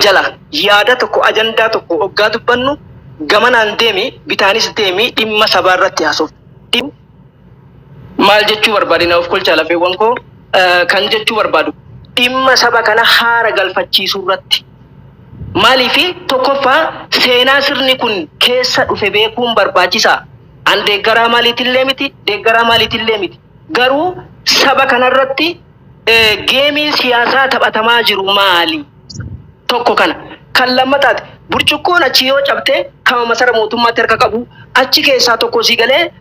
jala yaada tokko ajandaa tokko oggaa dubbannu gamanaan deemi bitaanis deemi dhimma sabaa irratti haasofna. Dhim- Maal jechuu barbaade na of kolchaa lafeewwan koo eh, kan jechuu barbaadu dhimma saba kana haara galfachiisuu irratti maaliifi tokkoffaa seenaa sirni kun keessa dhufe beekuun barbaachisaa an deeggaraa maaliitillee miti deeggaraa maaliitillee miti garuu saba kanarratti geemiin siyaasaa taphatamaa jiru maali? Tokko kana. Kan lammataati. Burcuqqoon achi yoo cabte kama masara mootummaatti harka qabu achi keessaa tokko sii galee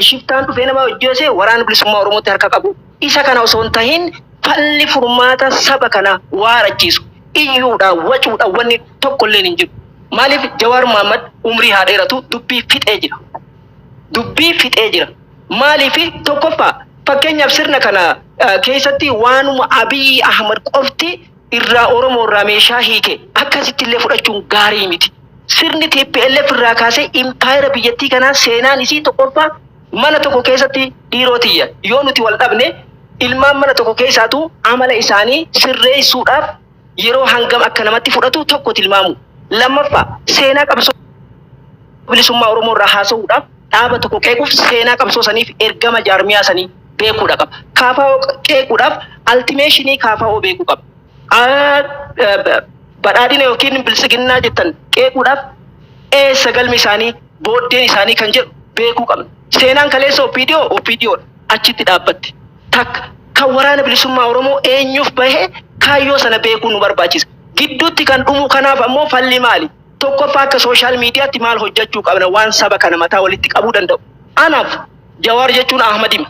shiftaan dhufee nama hojjeese waraana bilisummaa Oromootti harka qabu. Isa kana osoo hin tahin falli furmaata saba kana waarachiisu iyyuudha wacuudha wanni tokko illee hin jiru. Maaliif Jawaar Mohaammed umrii haa dheeratu dubbii fixee jira. dubbii fixee jira. Maaliif tokkoffaa fakkeenyaaf sirna kana keessatti waanuma Abiy Ahmad qofti irraa Oromoo irraa meeshaa hiike akkasitti illee fudhachuun gaarii miti. Sirni TPLF irraa kaasee impaayera biyyattii kanaa seenaan isii tokkoffaa mana tokko keessatti dhiiroo tiyya yoo nuti wal dhabne ilmaan mana tokko keessaatu amala isaanii sirreessuudhaaf yeroo hangam akka namatti fudhatu tokko tilmaamu. Lammaffaa seenaa qabsoo bilisummaa Oromoo irraa haasa'uudhaaf dhaaba tokko qeequuf seenaa qabsoo saniif ergama jaarmiyaa sanii beekuudha qaba. Kaafaa'oo qeequudhaaf altimeeshinii kaafaa'oo beekuu qaba. Badhaadhina yookiin bilisiginnaa jettan qeequudhaaf eessa galmi isaanii booddeen isaanii kan jedhu beekuu qabna. Seenaan kaleessa OPDO OPDOdha achitti dhaabbatti. Takka, kan Waraana Bilisummaa Oromoo eenyuuf bahe kaayyoo sana beekuun nu barbaachisa. Gidduutti kan dhumu kanaaf ammoo falli maali? Tokkoffaa akka social mediaatti maal hojjachuu qabna waan saba kana mataa walitti qabuu danda'u? Anaaf Jawaar jechuun Ahmadima.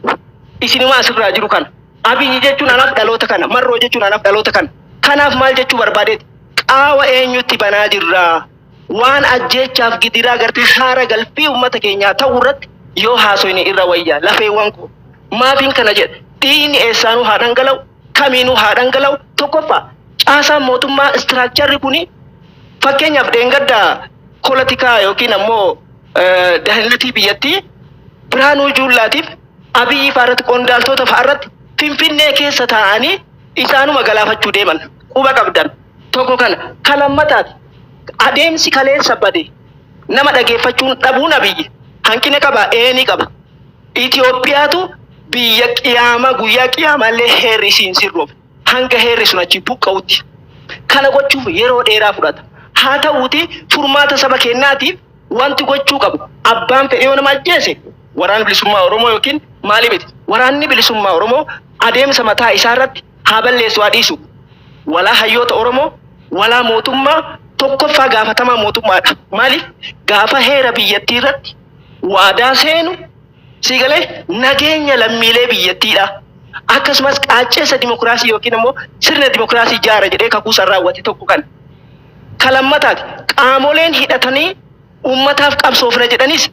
Isinuma asirraa jiru kana. Abiyyi jechuun anaaf dhaloota kana. Marroo jechuun anaaf dhaloota kana. Kanaaf maal jechuu barbaadeeti? Qaawa eenyutti banaa jirra? Waan ajjeechaaf gidiraa gartee haara galfii ummata keenyaa ta'u irratti yoo haasoyne irra wayya lafeewwan koo. Maafiin kana jedhe? Dhiiyni eessaanuu haa dhangala'u, kamiinuu haa dhangala'u, tokkoffaa caasaan mootummaa istiraakcharri kuni fakkeenyaaf dheengadda polatikaa yookiin ammoo dahinnatii biyyattii Birhaanuu Juullaatiif Abiyyi fa'arratti qondaaltoota fa'arratti Finfinnee keessa taa'anii isaanuma galaafachuu deeman. quba qabdan tokko kana kan lammataati adeemsi kaleessa bade nama dhageeffachuun dhabuun abiyyi hanqina qaba ee ni qaba Itoophiyaatu biyya qiyaama guyyaa qiyaamaallee heerri isiin sirroof hanga heerri sun achi buqqa'utti kana gochuuf yeroo dheeraa fudhata haa ta'uuti furmaata saba keenyaatiif wanti gochuu qabu abbaan fedhee yoo nama ajjeese waraana bilisummaa oromoo yookiin maali miti waraanni bilisummaa oromoo adeemsa mataa isaa irratti Haa balleessu haa dhiisu walaa hayyoota Oromoo walaa mootummaa tokkoffaa gaafatamaa mootummaadha. Maaliif gaafa heera biyyattii irratti waadaa seenu sii galee nageenya lammiilee biyyattiidha. Akkasumas qaacceessa dimokiraasii yookiin immoo sirna dimokiraasii jaara jedhee kakuu san raawwate tokko kan ka lammataati. Qaamoleen hidhatanii ummataaf qabsoofna jedhanis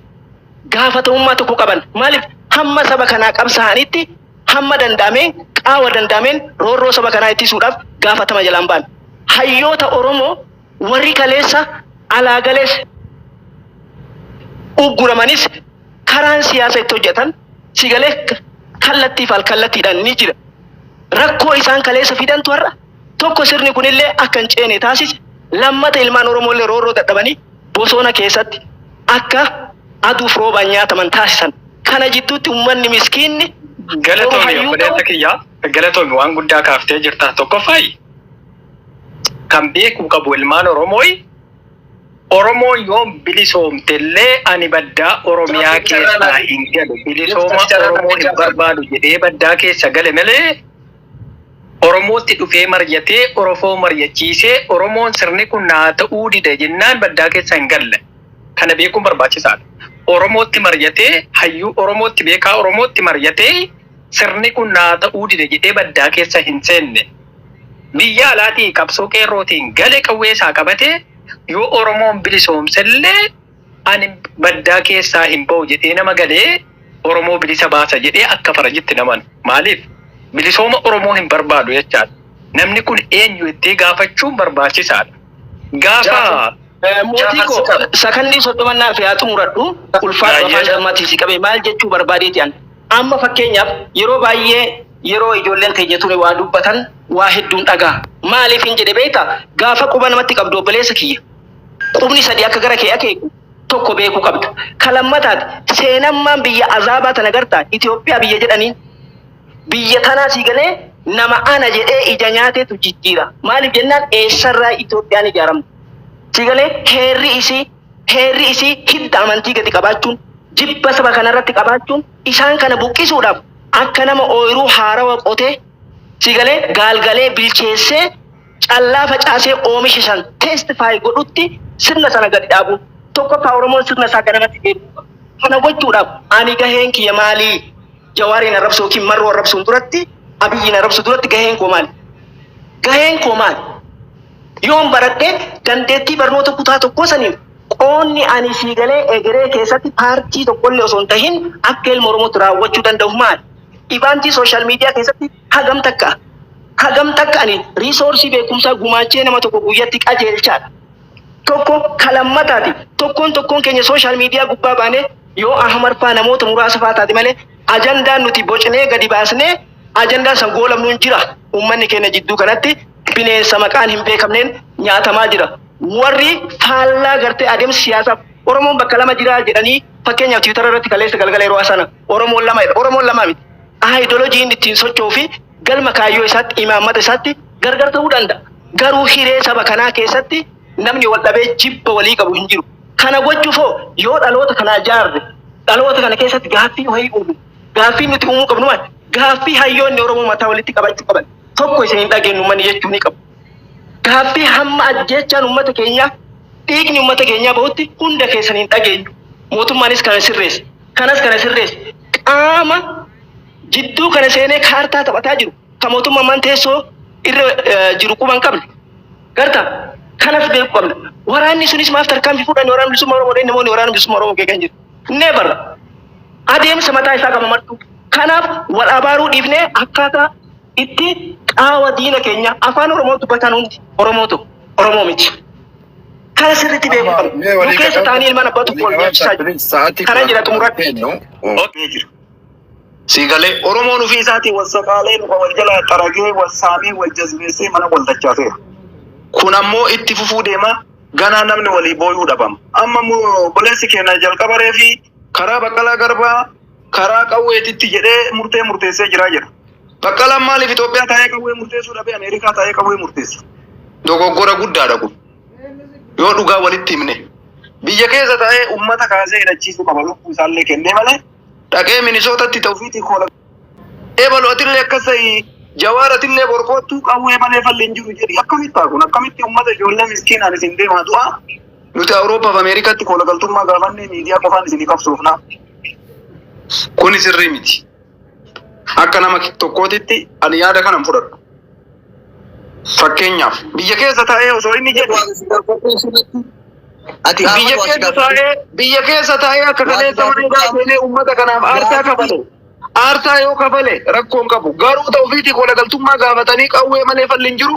gaafatamummaa tokko qaban. Maaliif hamma saba kanaa qabsaa'anitti Hamma danda'ame qaawa danda'ameen roorroo saba kanaa ittisuudhaaf gaafatama jalaa hin baane. Hayyoota Oromoo warri kaleessa alaa galees ugguramanis karaan siyaasa itti hojjetan si galee kallattii fi alkallattiidhaan ni jira. Rakkoo isaan kaleessa fidantu har'a tokko sirni kunillee akka hin ceene taasise lammata ilmaan Oromoo illee roorroo dadhabanii bosona keessatti akka aduuf roobaan nyaataman taasisan. Kana jidduutti ummanni miskiinni yeroo Galatoomi hayyuu obboleessa ta'u kiyya. Galatoomi waan guddaa kaaftee jirta. Tokkoffaayi kan beekuu qabu ilmaan Oromooyi Oromoo yoom bilisoomte illee ani baddaa Oromiyaa keessaa hin galu. Bilisooma Oromoo hin barbaadu jedhee baddaa keessa gale malee Oromootti dhufee maryatee Orofoo maryachiisee Oromoon sirni kun naa ta'uu dide jennaan baddaa keessa hin galle. Kana beekuun barbaachisaadha. Oromootti maryatee, hayyuu Oromootti, beekaa Oromootti maryatee sirni kun naa ta'uu dide jedhee baddaa keessa hin seenne. Biyya alaatii qabsoo qeerrootiin gale qawwee isaa qabatee yoo Oromoon bilisoomsellee, Ani baddaa keessaa hin ba'u jedhee nama galee Oromoo bilisa baasa jedhee akka farajitti hin amanu. Maaliif? Bilisooma Oromoo hin barbaadu jechaadha. Namni kun eenyu jettee gaafachuun barbaachisaadha. Gaafa. Mootii koo sakandii soddoma naaf yaa xumuradhu ulfaadhu afaan dammaatti si qabe maal jechuu barbaadeeti an amma fakkeenyaaf yeroo baay'ee yeroo ijoolleen keenya tuni waa dubbatan waa hedduun dhagaa maaliif hin jedhe beekta gaafa quba namatti qabdu obboleessa kiyya Qubni sadii akka gara kee akeeku tokko beekuu qabda. Ka lammataati, seenammaan biyya azaabaa tana gartaa? Itoophiyaa biyya jedhaniin. Biyya tanaa sii galee nama ana jedhee ija nyaateetu jijjiira. Maaliif jennaan eessarraa Itoophiyaan ijaaramte? Sii galee heerri isii heerri isii hidda amantii gadi qabaachuun, jibba saba kanarratti qabaachuun isaan kana buqqisuudhaaf akka nama ooyruu haarawa qotee sii galee gaalgalee bilcheessee callaa facaasee oomisha san testify godhutti sirna sana gadi dhaabuun tokkoffaa Oromoon sirna isaa ganamatti deebi'uu qaba. Kana gochuudhaaf ani gaheen kiyya maalii? Jawaariin arrabsu yookiin marroo arrabsuun duratti Abiyyiin arrabsu duratti gaheen koo maali? Gaheen koo maali? Yoon baradhee dandeettii barnoota kutaa tokkoo saniin qoonni ani sii galee egeree keessatti paartii tokkollee osoo hin tahin akka ilma Oromootti raawwachuu danda'u maali? Ivaantii sooshaal miidiyaa keessatti Hagam takka hagam takka ani riisoorsii beekumsaa gumaachee nama tokko guyyatti qajeelchaadha. Tokko ka lammataati. Tokkoon tokkoon keenya sooshaal miidiyaa gubbaa baanee yoo Ahmad faa namoota muraasa faa taate malee ajandaan nuti bocnee gadi baasnee ajandaa san goolabnu hin jira. Uummanni keenya jidduu kanatti bineensa maqaan hin beekamneen nyaatamaa jira. Warri faallaa gartee adeemsa siyaasaaf Oromoon bakka lama jira jedhanii fakkeenyaaf tiwitara irratti kaleessa galgala yeroo sana Oromoon lama jedha. Oromoon lama miti. Aayidolojii inni ittiin socho'uu fi galma kaayyoo isaatti, imaammata isaatti gargar ta'uu danda'a. Garuu hiree saba kanaa keessatti namni wal dhabee jibba walii qabu hin jiru. Kana gochuuf hoo yoo dhaloota kana ijaarre, dhaloota kana keessatti gaaffii wayii uumne, gaaffiin nuti uumuu qabnu maal? Gaaffii hayyoonni Oromoo mataa walitti qabachuu qaban, tokko isin hin dhageennu uummanni jechuu ni qabu. Gaaffii hamma ajjeechaan uummata keenyaa, dhiigni uummata keenyaa bahutti hunda keessan hin dhageenyu. Mootummaanis kana sirreessa. Kanas kana sirreessu qaama jidduu kana seenee kaartaa taphataa jiru, ka mootumma ammaan teessoo irra jiru quba hin qabne. Garta? Kanas beekuu qabna. Waraanni sunis maaf tarkaanfii fudhanne Waraana Bilisummaa Oromoo dhee namoonni Waraana Bilisummaa Oromoo qeeqan jiru. Never! Adeemsa mataa isaa qaba martuu. Kanaaf wal abaaruu dhiifnee akkaataa itti qaawa diina keenyaa Afaan Oromoo dubbataan hundi Oromoo ta'u, Oromoo miti. Kana sirriitti beekuu qabna. Mee Nu walii keessa galan- taa'anii ilmaan abbaa tokko wal nyaachisaa jiru. Sa'aatii Kana kudha jira xumuratti. kennu. Okkee jira. Sii galee Oromoon ofii isaatii wal saqaalee luka wal jalaa xaragee wal saamee wal jazbeessee mana wal dachaaseera. Kun ammoo itti fufuu deema ganaa namni walii booyuu dhabama. Amma immoo obboleessi keenya jalqabaree fi karaa baqqalaa garbaa karaa qawweetitti jedhee murtee murteessee jira jedha. Baqqalaan maaliif Itoophiyaa taa'ee qawwee murteessuu dhabee Ameerikaa taa'ee qawwee murteessa? Dogoggora guddaadha kun. Yoo dhugaa walitti himne. Biyya keessa taa'ee uummata kaasee hidhachiisuu qaba lubbuu isaallee kennee malee dhaqee minisootatti ta'ufiitii koola. Eebalu atillee akkas ta'ii jawaar atillee borkoottuu qawwee malee falli hin jiru jedhi akkamitti ta'a kun akkamitti uummata ijoollee miskiinaan isin deemaa du'a nuti Awuroopaaf Ameerikaatti koola galtummaa gaafannee miidiyaa qofaan isinii qabsoofnaa. Kuni sirrii miti. Akka nama tokkootitti ani yaada kana hin fudhadhu. Fakkeenyaaf biyya keessa taa'ee osoo inni jedhu Ati biyya Ahmad waa si keessa gaafadhu. taa'ee biyya keessa taa'ee akka Waa kaleessa si mana hidhaa gaafadhu. seenee uummata kanaaf aarsaa Gaafadhu. kafale. Aarsaa yoo kafale rakkoon qabu. Garuu ta'ufiitii kolagaltummaa gaafatanii qawwee malee falli hin jiru.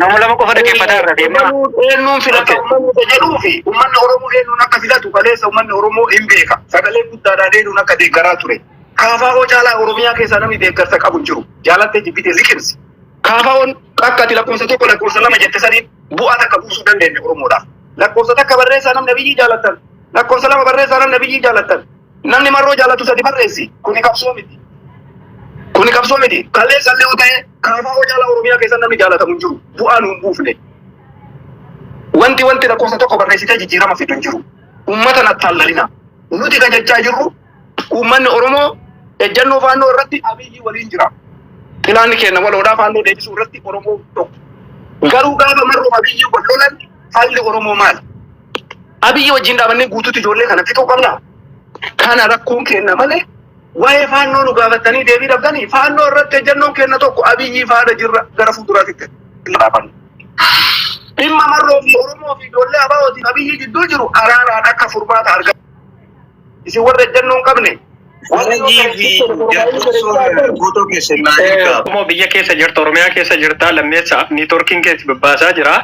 Nama lama qofa dhaggeeffataa irra deemaa. Oromoon eenyuun filata Okay. uummanni isa jedhuu fi uummanni Oromoo eenyuun akka filatu kaleessa uummanni Oromoo hin beeka. Sagalee guddaadhaan eenyuun akka deeggaraa ture. Kaafaa'oo caalaa Oromiyaa keessaa namni deeggarsa qabu hin jiru. Jaalattee jibbitee liqimsi. Kaafaa'oon akka ati lakkoofsa tokko lakkoofsa lama jette saniin bu'aa takka buusuu dandeenye Oromoodhaaf. Lakkoofsa takka barreessaa namni biyyii jaallattan. Lakkoofsa lama barreessaa namni biyyii jaallattan. Namni marroo jaalatu sadi barreessi. Kuni qabsoo miti. Kuni qabsoo miti. Kalleessa illee yoo ta'e kaafaa oo jaalaa Oromiyaa keessa namni jaalatamu hin jiru. Bu'aa nu hin buufne. Wanti wanti lakkoofsa tokko barreessitee jijjiirama fidu hin jiru. Uummata na taallalina. Nuti kan jechaa jirru uummanni Oromoo ejjannoo faannoo irratti abiyyii waliin jira. Pilaanni keenya waloodhaa faannoo deebisuu irratti Oromoo tokko. Garuu gaafa marroo abiyyii wal lolan Falli Oromoo maal? Abiyyi wajjin dhaabannee guutuutti ijoollee kana fixuu qabna. Kana rakkoon keenna malee waa'ee faannoo nu gaafattanii deebii dhabdanii faannoo irratti ejjannoon keenna tokko Abiyyi faana jirra gara fuulduraatti itti dhaabanna. Dhimma marroo fi Oromoo fi ijoollee abaa'ootiin Abiyyi gidduu jiru araaraan akka furmaata argatu. Isin warra ejjennoo hin qabne. Harajii fi jaarsummaa guutuu keessan naa ergaa. Oromoo biyya keessa jirta, Oromiyaa keessa jirta, lammeessa niitoorkiin keessa babbaasaa jira.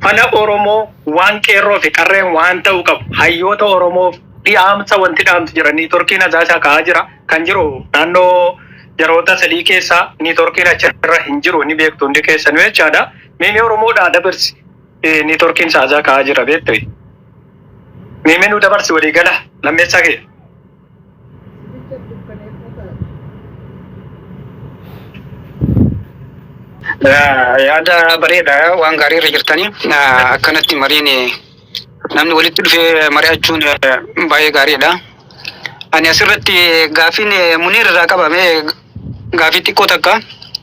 Fala Oromoo waan qeerroo fi qarreen waan ta'uu qabu hayyoota Oromoof dhiyaamsa wanti dhaamtu jira. Niitoorkiin asaa isaa ka'aa jira. Kan jiru naannoo yeroota sadii keessa niitoorkiin achirra hin jiru ni beektu hundi keessanuu jechaadha. Meemee Oromoodhaa dabarsi. Eh, ni torkiin saajaa ka'aa jira beektu. Miimee nu dabarsi walii gala lammeessaa kee. Yaa- yaada bareeda waan gaarii irra jirtanii Ah, akkanatti mariin eh, namni walitti dhufee mari'achuun eh, baay'ee gaariidha. Ani asirratti eh, gaafiin eh, Muniir irraa qabame eh, gaafii xiqqoo takka.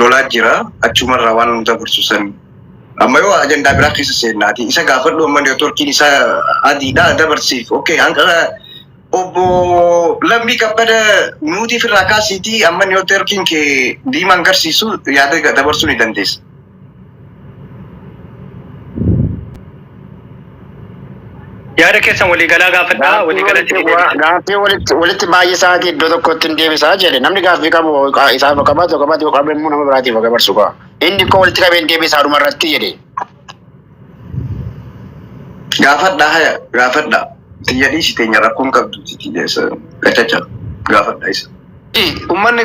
lolaa jira achumarraa waan nu dabarsu san amma yoo ajandaa biraa keessa seennaati isa gaafadhu amma neetworkiin isa adiidha dabarsiif okay hanqara obbo lammii kabbada nuutiif irraa kaasiitii amma neetworkiin kee diimaan garsiisu yaada dabarsuu ni dandeessa. Yaada keessan waliigalaa gaafadhaa, waliigalatti ni deebisa. Gaaffii walitti walitti baay'isaati iddoo tokkotti hin deebisaa jedhe namni gaaffii qabu qa- isaaf haa qabaatu haa qabaatu yoo qabe immoo nama biraatiif haa dabarsu kaa inni koo walitti qabee hin deebisaa dhuma irratti jedhe Gaafadha haya gaafadha. Tiyya dhiisi teenya rakkoon qabdu tiyya gachacha gaafadha isa. Ummanni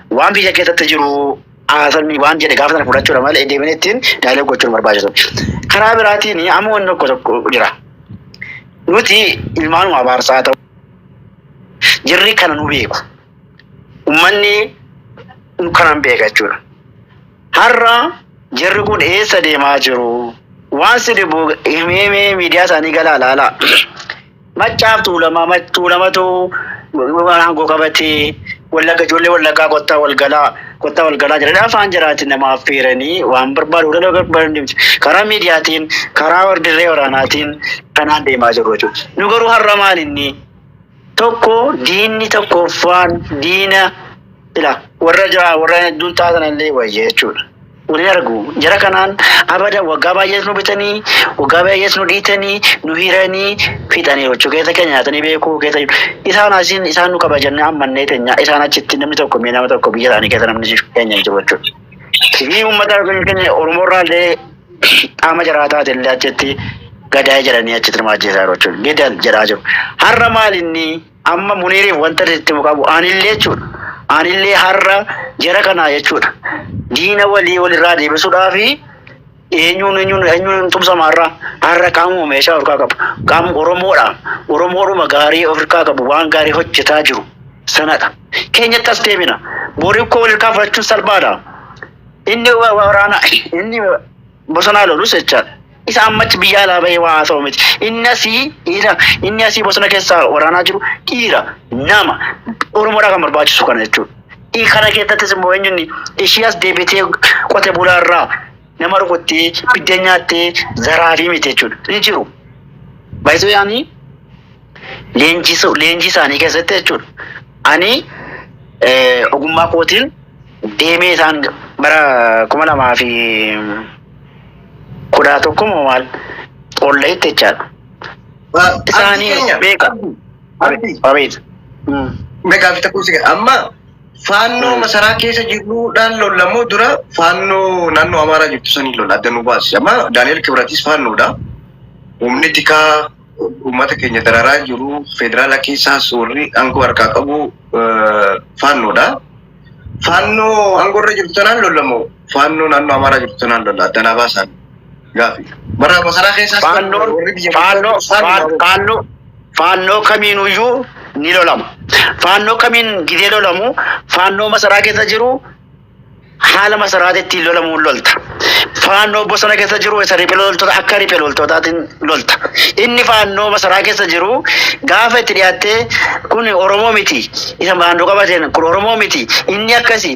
Waan biyya keessatti jiru haasofni waan jedhe gaafa sana fudhachuudha malee deemanii ittiin daalee gochuun barbaachisu. Karaa biraatiin amma wanni tokko tokko jira. Nuti ilmaanuma abaarsaa ta'u jirri kana nu beeku. Uummanni nu kanan beeka jechuudha. Har'a jirri kun eessa deemaa jiru? Waan si dhibu himee miidiyaa isaanii galaa laalaa. Maccaaf Tuulamaa, Mac- Tuulamatu aangoo qabatee wallagga ijoollee wallaggaa kottaa walgalaa kottaa walgalaa jedhanii afaan jaraatiin nama affeeranii waan barbaadu hunda nama barbaadu karaa miidiyaatiin karaa dirree waraanaatiin kanaan deemaa jiru jechuudha. Nu garuu har'a maal inni tokko diinni tokkoffaan diina ila warra jaa warra hedduun taatan illee wayya jechuudha. Waliin argu. Jara kanaan abada waggaa baay'ees nu bitanii, waggaa baay'ees nu dhiitanii, nu hiranii fixaniiru jechuu keessa keenya nyaatanii beekuu keessa jiru. Isaan asiin isaan nu qaba jennee ammannee teenya. Isaan achitti namni tokko mee nama tokko biyya isaanii keessa namni keenya hin jiru jechuudha. Sirni uummata yookiin keenya Oromoo irraa illee qaama jaraa taate illee achitti gadaa'ee jedhanii achitti nama ajjeesaa jiru jechuudha. Gidal jedhaa jiru. Har'a maal inni Amma Muniiriif wanta itti himu qabu anillee jechuudha. Anillee har'a jara kanaa jechuudha. Diina walii walirraa deebisuudhaaf eenyuun eenyuun eenyuun tumsama har'a har'a qaamuma meeshaa ofirkaa qabu qaama Oromoodha. Oromoodhuma gaarii ofirkaa qabu waan gaarii hojjetaa jiru sanadha. Keenyatti as deebina. Borii koo walirkaa fudhachuun salphaadha. Inni wa- waraana inni bosonaa lolus jechaadha. Isa amma achi biyya alaa bahee waa haasa'u miti. Inni asii dhiira, inni asii bosona keessaa waraanaa jiru dhiira, nama. Oromoodhaa kan barbaachisu kana jechuudha. I- Kana keessattis immoo eenyunni ishii as deebitee qote bulaa irraa nama rukuttee biddeen nyaattee zaraafii miti jechuudha. Ni jiru. Baay'isuu yaanii leenjisuu leenjii isaanii keessatti jechuudha. Ani eh, ogummaa kootiin deemee isaan bara kuma lamaa fi kudha tokko moo maal qolla'itti jechaadha. Abdii Isaanii keenya. beeka. Abdii. Abeet. Mm. Meeqaa fi takkuun sigaa. Amma faannoo Mm. masaraa keessa jiruudhaan lollamoo dura faannoo naannoo Amaaraa jirtu sanii lola adda nu baasi. Amma Daani'el Kibratis faannoodha. Humni tikaa uummata keenya dararaa jiru federaala keessaas warri aangoo harkaa qabu faannoodha. Faannoo aangoo irra jirtu tanaan lolla moo faannoo naannoo Amaaraa jirtu tanaan lolla adda naa baasaan gaafi. Bara masaraa keessaas faannoo faannoo kamiinuyyuu ni lolama. Faannoo kamiin gidee lolamu faannoo masaraa keessa jiru Haala masaraati ittiin lolamuun lolta. Faannoo bosona keessa jiru isa riphee loltoota akka riphee loltootaatiin lolta. Inni faannoo masaraa keessa jiru gaafa itti dhiyaattee kun Oromoo miti isa faannoo qabateen kun Oromoo miti inni akkasi